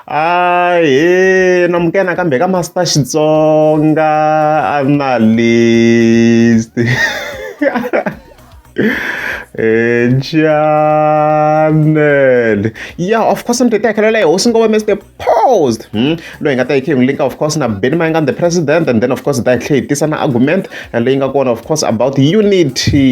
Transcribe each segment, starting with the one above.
Ahee namukela nakambe ka Master Xitsonga analyst channel yeah of course mtete yakhelela hi hosi ngoma mr post hmm? loyi nga ta yi kheyingu linka of course na beni mayanga the president and then of course ta yi tlhe hi tisa na argument leyi nga kona of course about unity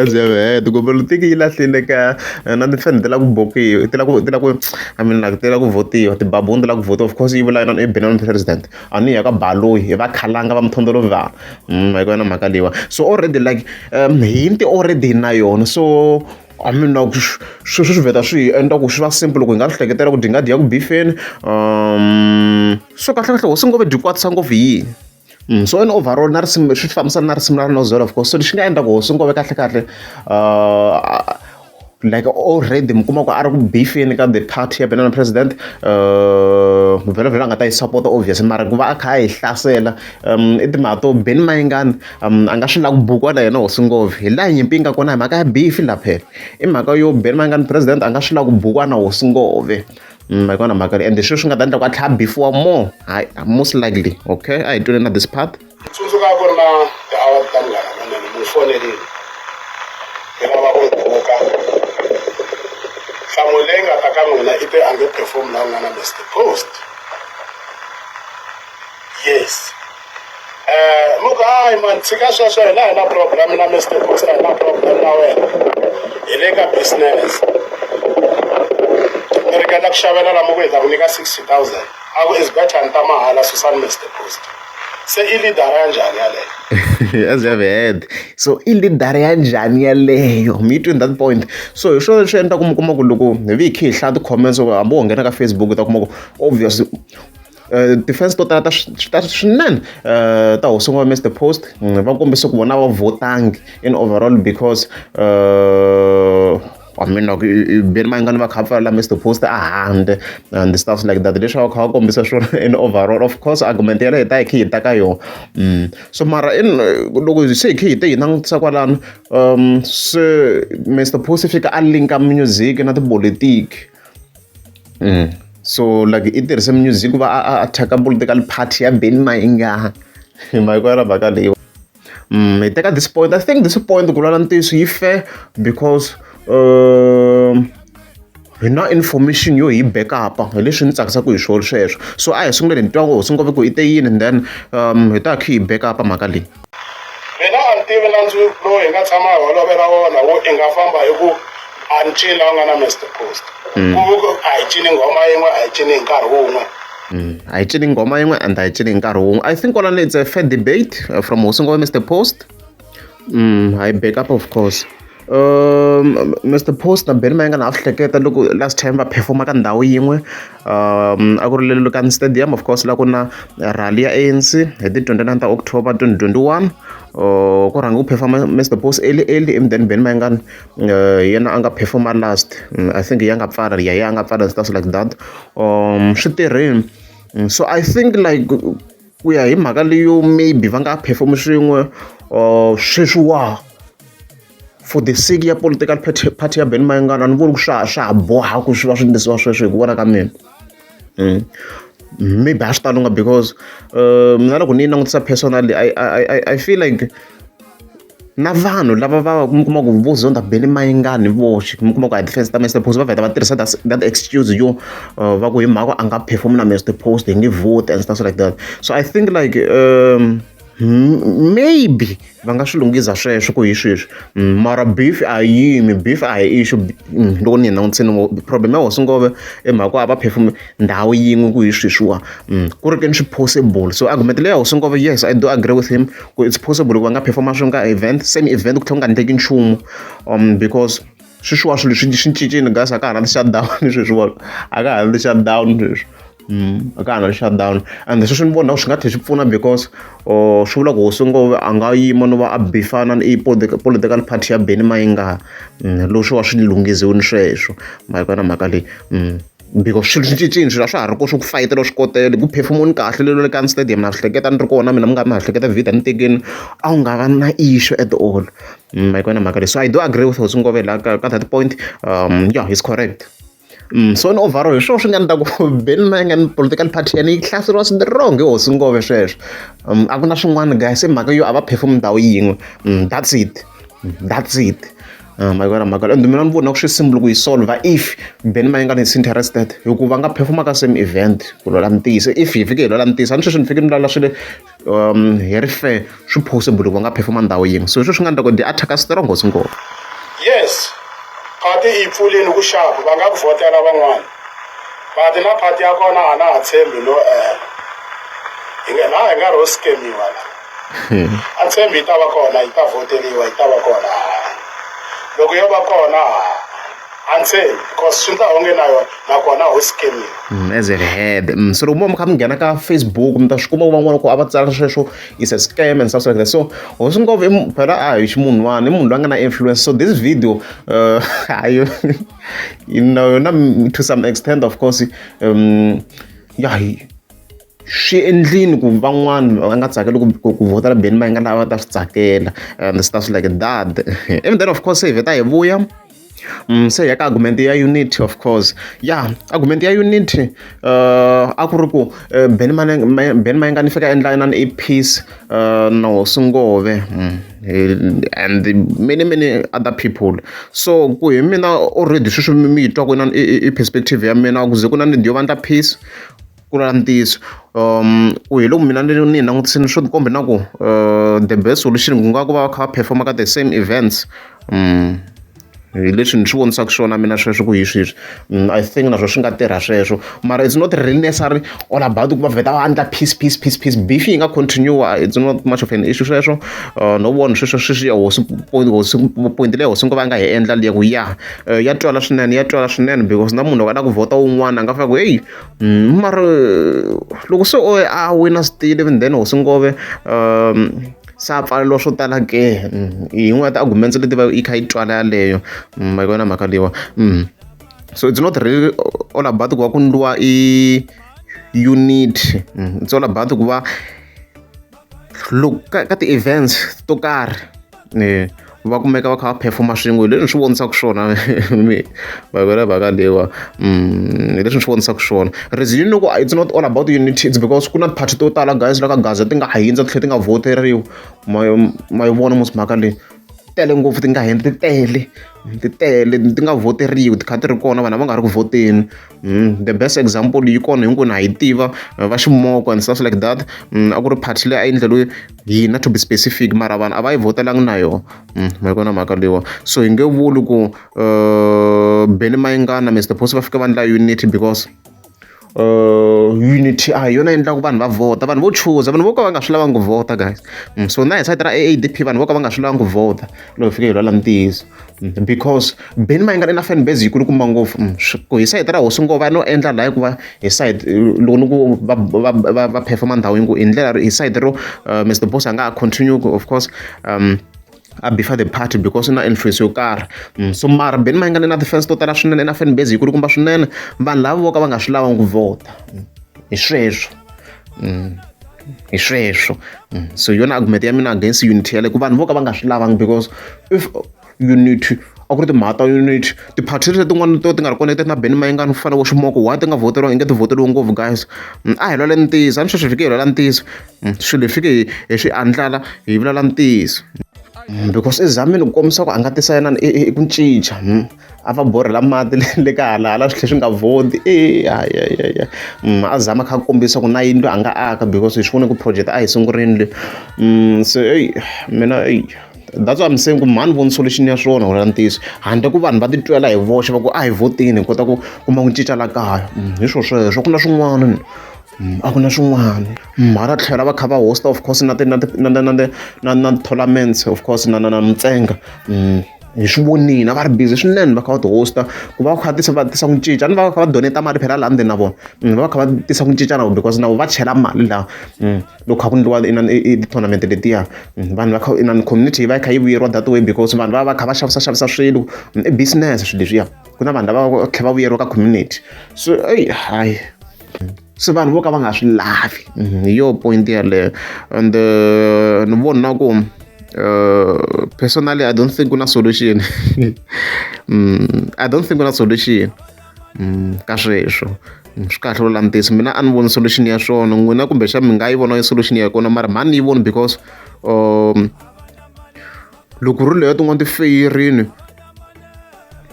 Abyavhele kombela tiki yi lahlile ka na timfanelo ti lava ku bokiwa ti lava ku ti lava ku I mean like ti lava ku votiwa tibabuni ti lava ku votiwa of course yi vula yona i Benin president a ni ya ka Baloyi hi va khalanga va muthondzolovi va hi ku va na mhaka leyiwani so already like hi ti already hi na yona so. I mean na ku sweswo swi vheta swi hi endla ku swi va simple loko hi nga swi hleketela ku dyi nga dyi ya ku bifeni um so kahlekahle hosi ngove dyi kwatisa ngopfu hi yini Mm, so in overall na risimu swi fambisana na risimu ra nozela of course so lexi nga endla ku hosi ngove kahle kahle uh, like already mi kuma ku a ri ku bifeni ka the party ya benana president uh, vhelovhelo a nga ta yi support obviously mara ku va a kha a yi hlasela um i timhaka to beni mayingani um a nga swi lava ku bukiwa na yena hosi ngopfu hi laha nyimpi yi nga kona hi mhaka ya bifi la phela i mhaka yo beni ma nga ni president a nga swi lava ku bukiwa na hosi ngopfu mm, hi kona mhaka leyi ende sweswi nga ta endla ku a tlhaya bifiwa more hayi most likely okay a hi twile na this part tsundzuka ku ri na tiawa ta munghana manene mu fonelini hi lava ku buka nhlamulo leyi nga ta ka n'wina i te a nge perform la ku nga na mr post yes Eh, ni ku hayi mani tshika sweswo hina hi na problem na mr busa hi na problem na wena hi le ka business ni ringeta ku xavela lama ku hi ta ku nyika sixty thousand a ku is better ni ta mahala susani mr busa se i lidara ya njhani yaleyo as you have heard so i lidara ya njhani yaleyo mi twini that point so hi swona leswi endla ku mi kuma ku loko hi vi hi khe hi hlaya ti-comments hambi wo nghena ka facebook u ta kuma ku obviously ti-fans to tala ta ta swinene ta hosi n'wana Mister Post va kombise ku vona a va votangi in overall because I mean loko beni mayingani va kha va pfalela Mister Post a handle and the stuff like that leswi a va kha va kombisa swona in overall of course argument yaleyo hi ta hi kha hi ta ka yona so mara in loko se hi kha hi te hi langutisa kwalano se Mister Post i fika a link-a music na tipolotiki. so like i tirhise music ku va a a thyaka political party ya Benny Mayengani hi mhaka yona mhaka leyi hi teka this point I think this point ku lwala ntiyiso yi fair because hi na information yo hi back up hi leswi ni tsakisaka hi swona sweswo so a hi sunguleni hi twa ku hosi ngopfu ku i te yini and then hi ta kha hi back up mhaka leyi. Mina a ni tivi nandzu lowu hi nga tshama hi holovela wona wo i nga famba hi ku a ni cini la nga na Mister Post mm. ku a hi cini nghoma yin'we a hi cini hi nkarhi wun'we mm. a hi cini nghoma yin'we and a hi cini hi nkarhi wun'we i think kwalani it's a fair debate uh, from hosi ngoma Mister Post mm, hi back up of course Mister Posner Benny Mayengani a swi hleketa loko last time va perform-a ka ndhawu yin'we a ku ri le Lukani stadium of course la ku na rally ya A_N_C hi ti twenty nine ta October twenty twenty one ku rhange ku perform-a Mister Boss early early and then Benny Mayengani hi yena a nga perform-a last I think hi ya nga pfala ya ya a nga pfala and stuff like that swi tirhile so I think like. ku ya hi mhaka leyo maybe va nga perform swin'we or sweswi wa for the sake ya political party, party ya ben mayengana ni voni ku swa swa ha boha ku swi va swi ndlisiwa sweswo hi ku vona ka mina mm. maybe a swi talunga because uh, mina loko ni yi langutisa personally I, I, I, I feel like na vanhu lava va va mi kuma ku vo zonda bele mayingani voxe mi kuma ku a defense ta Mister Post va vheta va tirhisa that, that excuse yo uh, va ku hi mhaka a nga perform na Mister Post hi nge vote and stuff like that so i think like um, maybe va nga swi lunghisa sweswo ku hi sweswi mm, mara beef a yimi beef a hi ixu mm, loko ni hi languteni problem ya hosingove i mhaka a va perfume ndhawu yin'we ku hi sweswiwa mm, ku ri ke ni swi possible so argument leyi ya hosingove yes i do agree with him ku it's possible loko va nga performa swilo ka event se ni event ku tlhela ku nga endleki nchumu um because sweswiwa swilo swi swi cincile guys a ka ha na ti-shutdown sweswiwa a ka ha na ti-shutdown sweswi mm, a ka ha na ti-shutdown and sweswi ni vona swi nga tlhela swi pfuna because oh, swi vula ku hosi ngove a nga yima no va a bifana ni political party ya beni mayingaha mm, lowu swi va swi lunghiziwini sweswo mhaka na mhaka leyi mm. Mbiko, swilo swi cincile swilo a swa ha ri ko swo ku fayitela swikotela ku phefumuni kahle lelo le ka stadium na swi hleketa ni ri kona mina mi nga mi ha hleketa vhida ni tekeni a wu nga va na issue at all mm, ma yikona mhaka leyi so i do agree with hosi ngove la ka that point um yeah he's correct Mm, so ni overall hi swona swi nga ni ta ku beni na nga ni political party yani yi hlaseriwa swi wrong hi hosi ngove sweswo um, a ku na swin'wana guys i mhaka yo a va perform ndhawu yin'we mm, that's it mm, that's it Ah, mhaka yona mhaka and mina ni vona ku swi simple ku yi solve if beni ma yi nga ni interested hikuva nga performa ka same event ku lwela mintiyise if hi fike hi lwela mintiyise a ni sweswi ni fike ni lwela swi le um hi ri fair swi possible ku va nga performa ndhawu yin'we so hi sweswi nga endla ku ndi attack a strong hosi ngopfu yes phati yi pfulini ku xaku va nga ku vhotela van'wana phati na phati ya kona a na ha tshembi no ela hi nga laha hi nga ro skemiwa la a tshembi yi ta va kona yi ta voteriwa yi ta va kona loko yo va kona a tshembi because swi nga onge na yona nakona ho skemiwa mm, as it had mm, so loko mo mi kha mi nghena ka facebook mi ta swi kuma van'wana ku a va tsala sweswo is a scam and stuff like that so ho swi ngopfu phela a hi ximunhwana i munhu loyi a nga na influence so this video uh, hayo you know yona to some extent of course um, yeah, swi endlile ku van'wani va nga tsakeli ku ku ku vhotela Benny Mayengani lava ta swi tsakela and swi ta swi like that and then of course hi vheta hi vuya mm, se ya ka argument ya unity of course ya argument ya unity uh, a ku ri ku uh, Benny Mane- May- Benny Mayengani fika endla inani i peace uh, na hosi ngove mm. eh, and the many many other people so ku hi mina already sweswi mi mi yi twa ku inani i- i- i perspective ya mina ku ze ku na ni dyo vandla peace ku ri ntiyiso ku hi loko mina ni ni yi langutisile swo tikomba na ku the best solution ku nga ku va va kha va perform-a ka the same events hi leswi ni swi vonisaka swona mina sweswo ku hi swi swi I think naswona swi nga tirha sweswo mara it's not really necessary all about ku va vheta va endla peace peace peace peace beef yi nga continue it's not much of an issue sweswo no vona sweswo sweswi ya hosi point hosi point leyi hosi ngo va nga hi endla liya ku ya ya twala swinene ya twala swinene because na munhu loko a lava ku vhota wun'wana a nga fika ku heyi Mm, mara loko se o a wina switile even then hosi ngove um sa pfalelo swo tala ke mm, hi yin'wana ta arguments leti va yi kha yi twala yaleyo mm, ma yi vona mhaka leyiwa mm. so it's not really all about ku va ku ndliwa i unit it's all about ku va look ka ka ti-events to karhi ni va kumeka va kha va performa swin'we leswi ni swi vonisaka swona mi vavela vhaka lewa mm, leswi ni swi vonisaka swona reason loko it's not all about unity it's because ku na party to tala guys la ka gaza ti nga ha yindza titlhe ti nga voteriwi ma yi vona musi mhaka leyi tele ngopfu ti nga heni ti tele ti tele ti nga voteriwi ti kha ti ri kona vanhu va nga ri ku voteni Mm, the best example yi kona hinkwenu ha yi tiva eh, va ximoko and stuff like that mm, a ku ri party leyi a yi endleriwe hina to be specific mara vanhu a va yi votelangi na yona mm, ma yi kona mhaka leyiwa so hi nge vuli ku uh, beni mayingana mr post va fika va ndla unity because uh, unity a ah, hi yona endlaku vanhu va vhota vanhu vo chuza vanhu vo ka va nga swi lavangi ku vhota guys mm, so na hi sayiti ra aadp vanhu vo ka va nga swi lavangi ku vhota loko hi fike hi lwala ntiyiso Mm, because beni ma yi nga ri na fan base yikulukumba ngopfu mm, ku hi sayiti ra hosi ngova no endla laha hikuva hi sayiti loko ni ku va performa ndhawu yi ngo hi ndlela hi sayiti ro uh, mr boss a nga ha continue of course um a bifa the party because na influence yo karhi mm, so mara beni ma yi nga ni na ti-fans to tala swinene na fan base yikulukumba swinene vanhu lava vo ka va nga swi lava ku vhota hi sweswo hi sweswo mm, so hi yona argument ya mina against unity yale ku vanhu vo ka va nga swi lavangi because if unity a ku ri timhaka ta unity ti-party leti tin'wana to ti nga ri connected na beni mayingani ku fana vo ximoko why ti nga voteriwa inge ti voteriwe ngopfu guys mm, a hi lwale ntiyiso a ni sweswi hi fike hi lwala ntiyiso mm, swilo hi fike hi swi andlala hi vulala ntiyiso because i zamile ku kombisa ku a nga tisa yena ku cinca a va borhela mati le le ka hala hala swi tlhe swi nga vodi e ayayaya a zama kha a kombisa ku na yindlu a nga aka because hi swi vone ku project a hi sungurini le se eyi mina eyi that's why I'm saying ku mhani voni solution ya swona wena ntiyiso handle ku vanhu va titwela hi voxe va ku a hi votini hi kota ku kuma ku cinca la kaya hi swo sweswo ku na swin'wana a ku na swin'wana mara tlhela va kha va hosta of course na ti na ti na na na na na tournaments of course na na na mintsenga. hi swi vonile va ri busy swinene va kha va ti-hosta ku va va kha tisa va tisa ku cinca ni va va kha va doneta mali phela laha ndzeni na vona mm, va va kha va tisa ku cinca na vona because na vona va chela mali laha mm, loko kha ku ndliwa ti-tournament letiya mm, vanhu va kha inani community yi va yi kha yi vuyeriwa that way because vanhu va va kha va xavisa xavisa swilo i business swilo leswiya ku na vanhu lava va tlhela va vuyeriwa ka community so eyi hayi se vanhu vo ka va nga swi lavi mhm, hi yo point yeleyo and eh, ni voni na ku eh, personally i don't think ku na solution mm, i don't think ku na solution mm, ka sweswo mm, swi kahle lo langutisa mina a ni voni solution ya swona n'wina kumbexana mi nga yi vona solution ya kona mara mhani ni yi voni because um loko ri leyo tin'wana ti feyerini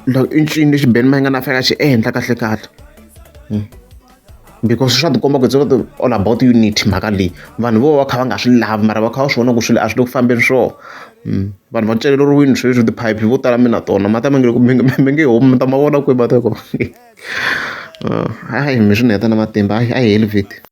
i ncini lexi ben mayingani a fanele a xi endla kahle kahle hmm. because swa tikomba ku it's not all about unity mhaka leyi vanhu vo va kha va nga swi lavi mara va kha va swi vona ku swilo a swi le ku fambeni swo hmm. vanhu va celeriwini sweswi tiphayiphi vo tala mina tona mata mi nge mi nge homi mi ta ma vona kwihi mata ko hayi mi swi ni heta na matimba a hi heli vhiti